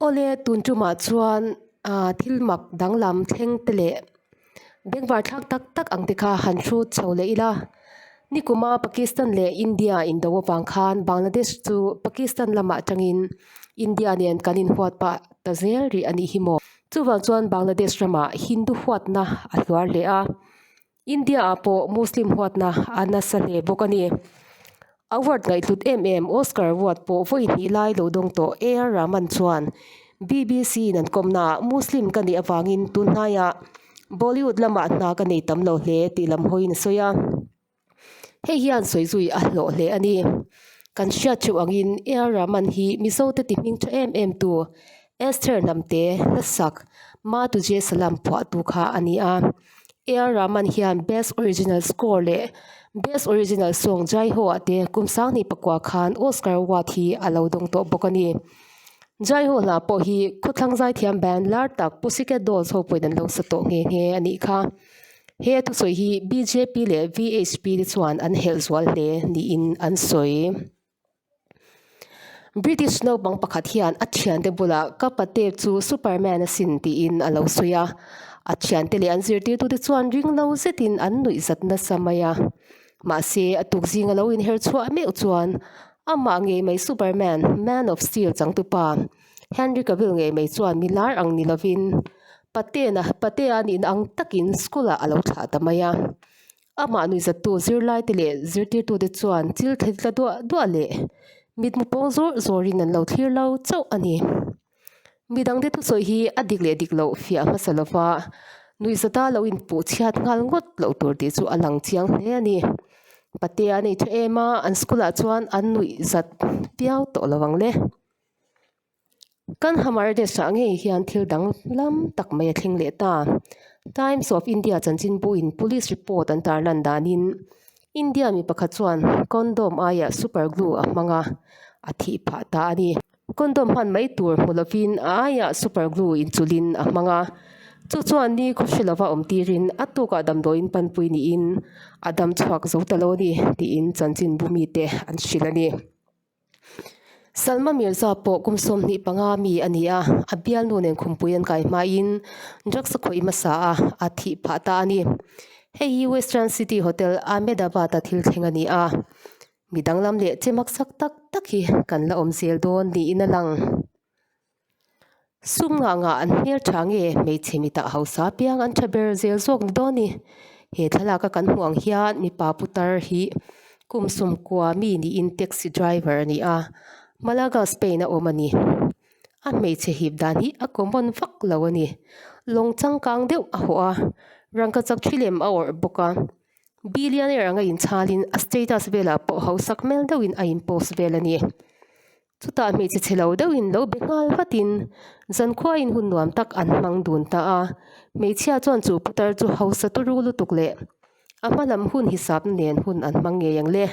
Awle tun tumah chuan thil mak danglam thleng te leh. Bengvar thlak tak tak ang te kha han hrut chho leh ila. Nikuma Pakistan leh India in do avang khan Bangladesh chu Pakistan lama tangin India nen kan in huat pah ta zel rih anih hi maw. Chuvang chuan Bangladesh rama Hindu huatna a hluar hle a, India ah pawh Muslim huatna a nasa hle bawk a ni. Award ngaihhlut em em Oscar Award pawh vawi hnih lai lo dawng tawh AR Rahman chuan bbc in an kawmnaah Muslim ka nih avangin tun hnaia Bollywood lamah hna ka nei tam lo hle tih lam hawiin a sawi a. Hei hian sawi zui a hlawh hle a ni. Kan hriat ṭheuh angin AR Rahman hi Mizote ti hming ṭha em em tu Esther Hnamte, Hlasak, Matujesalam phuahtu kha a ni a. AR rahman hian best original score leh best original song Jaiho ah te kum sang hnih pakua khan Oscar award hi a lo dawng tawh bawk a ni. Jaiho hna pawh hi khawthlang zai thiam ban lar tak Pussycat Dolls ho pawhin an lo sa tawh nghe nghe a nih kha. He a thusawi hi bjp leh vhp te chuan an helh zual hle niin an sawi. British naupang pakhat hian a thiante bulah ka pate chu Superman a sin tiin a lo sawi a. A thiante leh an zirtirtute chuan ringlo zetin an nuih zat nasa mai a. Mahse, a tukzing a lo inher chhuah meuh chuan amah ngei mai Superman, Man of Steel changtu pa, Henry Cavill ngei mai chuan mi lar ang ni lovin, patea nihna ang takin school-ah a lo thlah ta mai a. Amah nuihzattu zirlaite leh zirtirtute chuan thil thei tla duah duah leh mitmu pawng zawrh zawrhin an lo thlir lo chauh a ni. Mi dangte thusawi hi a dik leh dik loh fiah hmasa lova nuihzata lo inpuh chhiat nghal ngawt loh tur tih chu a lang chiang hle a ni. Patea nei tha em a, an school-ah chuan an nuihzat viau tawh lo ang le. Kan Hamardes-a ngei hian thil dang lam tak mai a thleng leh ta. Times of India chanchinbuin police report an tar lan danin India mi pakhat chuan condom aia super glue a hmang a, a thih phah ta a ni. Condom hman mai tur hmu lovin aia super glue inchulhin a hmang a, chu chuan nikhaw hre lova awm tirin a tukah damdawiin panpui niin a dam chhuak zo ta lo a ni, tiin chanchinbu mite an hrilh a ni. Salma Mirza pawh kum sawm hnih panga mi a ni a, a bialnu nen khumpui an kai hmain drugs a khawih hmasa a, a thih phah ta a ni. Hei hi Western City Hotel Ahmedabad-a thil thleng a ni a, mi danglam leh che maksak tak tak hi kan la awm zel dawn niin a lang. Sum ngah ngah an hmel tha nge hmeichhe mitah hausa piang an tha ber zel zawk ni dawn i? He thlalak a kan hmuh ang hian mipa putar hi kum sum kua mi niin taxi driver a ni a, Malaga Spain a awm a ni. A hmeichhe hip dan hi a common vak lo a ni. Lawng changkang deuh a haw a, rangka chak thi lem a awrh bawk a. Billionaire anga inchhalin a status velah pawh hausa hmel deuhin a inpost vel a ni. Chutah hmeichhe che lo deuhin lo be nghal vatin Zankhuaia in hun nuam tak an hmang dun ta a. Hmeichhia chuan chu putar chu hausa tu ru lutuk leh a hma lam hun hisapna nen hun an hmang ngei ang le.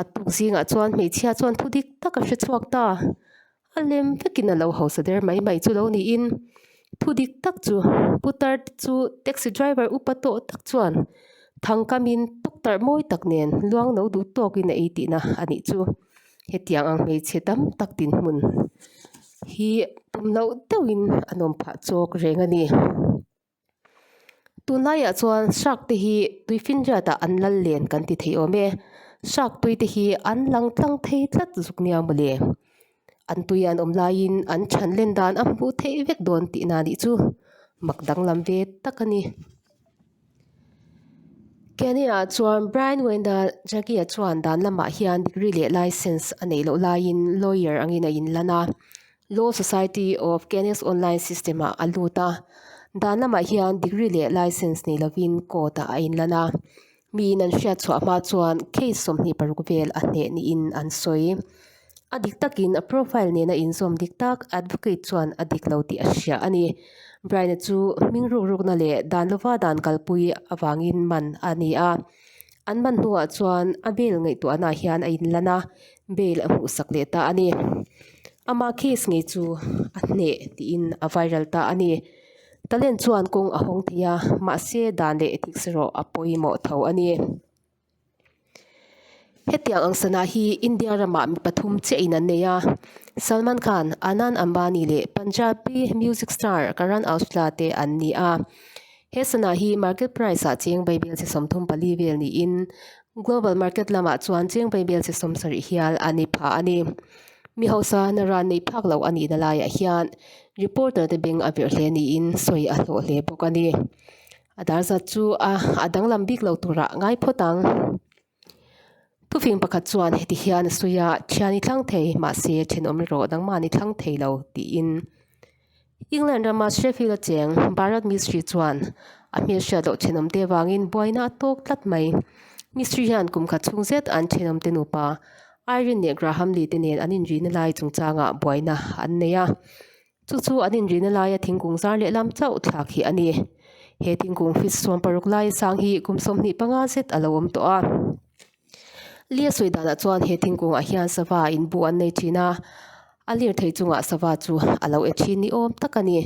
A tuk zingah chuan hmeichhia chuan thu dik tak a hre chhuak ta. A lem vekin a lo hausa der mai mai chu lo niin thu dik tak chu putar chu taxi driver upa tawh tak chuan thangkamin tuk tarh mawi tak nen luang no duh tawkin a ei tihna a nih chu. hetiang ang hmeichhe tam tak dinhmun hi tum loh deuhin an awm phah chawk reng a ni. Tun laiah chuan shark te hi tui finriatah an lal len kan ti thei awm e. Shark tui te hi an lang tlang thei tlat zuk nia maw le. An tui an awm laiin an chhan len dan a hmuh theih vek dawn tihna nih chu mak danglam ve tak a ni. Kenya-ah chuan Brian Wendell Jacky-a chuan dan lamah hian degree leh licence a neih loh laiin lawyer angin a inlan a, Law Society of Kenya's online system-ah a lut a. Dan lamah hian degree leh licence neih lovin court-ah a inlan a. Miin an hriatchhuah hma chuan case sawmhnih paruk vel a hneh niin an sawi. A dik takin a profile nen a insawm dik tak, advocate chuan a dik lo tih a hria a ni. Bryna chu hming ruk rukna leh dan lova dan kalpui avangin man a ni a. An man hnuah chuan a bail ngaihtuahna hian a inlan a, bail a hmuhsak leh ta a ni. Ama case ngei chu a hneh tiin a viral ta a ni. Talent chuan kawng a hawng thei a, mahse dan leh thik serh rawh a pawimawh tho a ni. Hetiang ang sana hi India rama mi pathum chiah in an nei a, Salman Khan, Anand Ambani leh Punjabi music star Karan Aujla te an ni a. He sana hi market price ah chengvai vel chi sawmthum pali vel niin global market lamah chuan chengvai vel chi sawm sarih hial a ni phah a ni. Mi hausa na ran nei phak loh a nihna laiah hian reporter te beng a verh hle niin sawi a hlawh hle bawk a ni. A dar zat chu a danglam bik lo tura ngai phawt ang. Thufing pakhat chuan heti hian a sawi a, Thian i thlang thei mahse thenawm ri rawh, nangmahni i thlang thei lo, tiin. England rama Sheffield acheng Bharat Mistry chuan a hmeichhia loh thenawm te avangin buaina a tawk tlat mai. Mistry hian kum khat chhung zet an thenawm te nupa Irene leh Graham Lee te nen an inrihna lai chungchangah buaina an nei a. Chu chu an inrihna laia thingkung zar leh lam chauh thlak hi a ni. He thingkung fis suam paruk laia sang hi kum sawmhnih panga zet a lo awm tawh a. Lia sawi danah chuan he thingkungah hian sava in bu an nei thin a, a lir thei chungah sava chu a lo e thin ni awm tak a ni.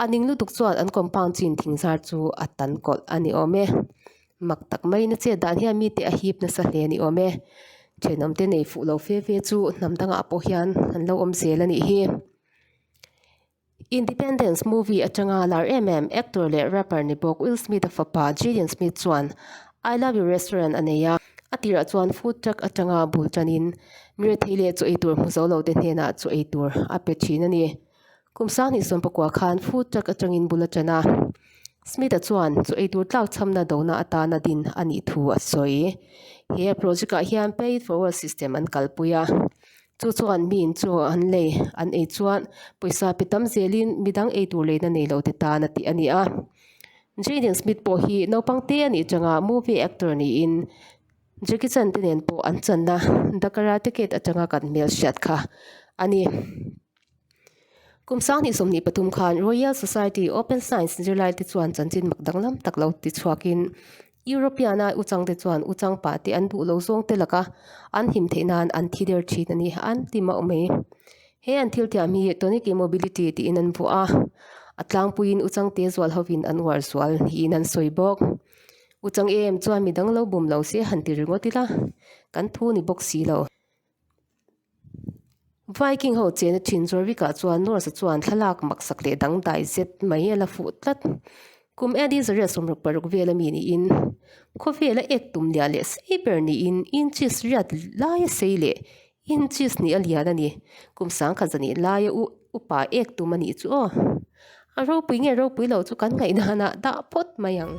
A ning lutuk chuan an kawmpang chin thing zar chu a tan kawlh a ni awm e. Mak tak mai na che dan hian mite a hip nasa hle ni awm e. Thenawm te nei fuh lo fe fe chu hnam dangah pawh hian an lo awm zel a nih hi. Independence movie atanga lar em em actor leh rapper ni bawk Will Smith a fapa Jaden Smith chuan I Love You Restaurant a nei a. A tirah chuan food truck atanga bul tanin mi rethei leh chaw ei tur hmu zo lote hnenah chaw ei tur a pe thin a ni. Kum sangni sawm pakua khan food truck atangin bula tan a, Smith-a chuan chu eitur tlak chhamna dona atana din a nih thu a sawi. He project-ah hian pay it forward system an kalpui a, chu chuan mi inchawh an lei an ei chuan pawisa pe tam zelin mi dang eitur leina nei lo te tan a tih a ni a. Jaden Smith pawh hi naupang te a nih changa movie actor niin Jackie Chan te nen pawh an channa The Karate Kid atanga kan hmel hriat kha a ni. Kum sang hnih sawmhnih pathum khan Royal Society Open Science zirlai te chuan chanchin mak danglam tak lo ti chhuak in European ai uchang te chuan uchang pah te an duh lo zawng te laka an him theih nan an thi der thin a ni an ti mauh mai. He an thil tiam hi tonic immobility tiin an vuah a, a tlangpui in uchang te zual ho in an uar zual niin an sawi bawk. Uchang em em chuan midang lo bum lo se han ti ringawt ila kan thu ni bawk si lo. Viking ho chena thin zuar bik ah chuan Norse a chuan thlalak maksak leh dangdai zet mai a la fuh tlat. Kum Adi Zaria sawmruk paruk vel a mi niin khawvel a ek tum liah leh sei ber niin inches riat lai a sei leh inches nih a lian a ni. Kum sangkhat zan ih laia upa ek tum a nih chu aw. A ropui nge ropui lo chu kan ngaih danah dah phawt mai ang.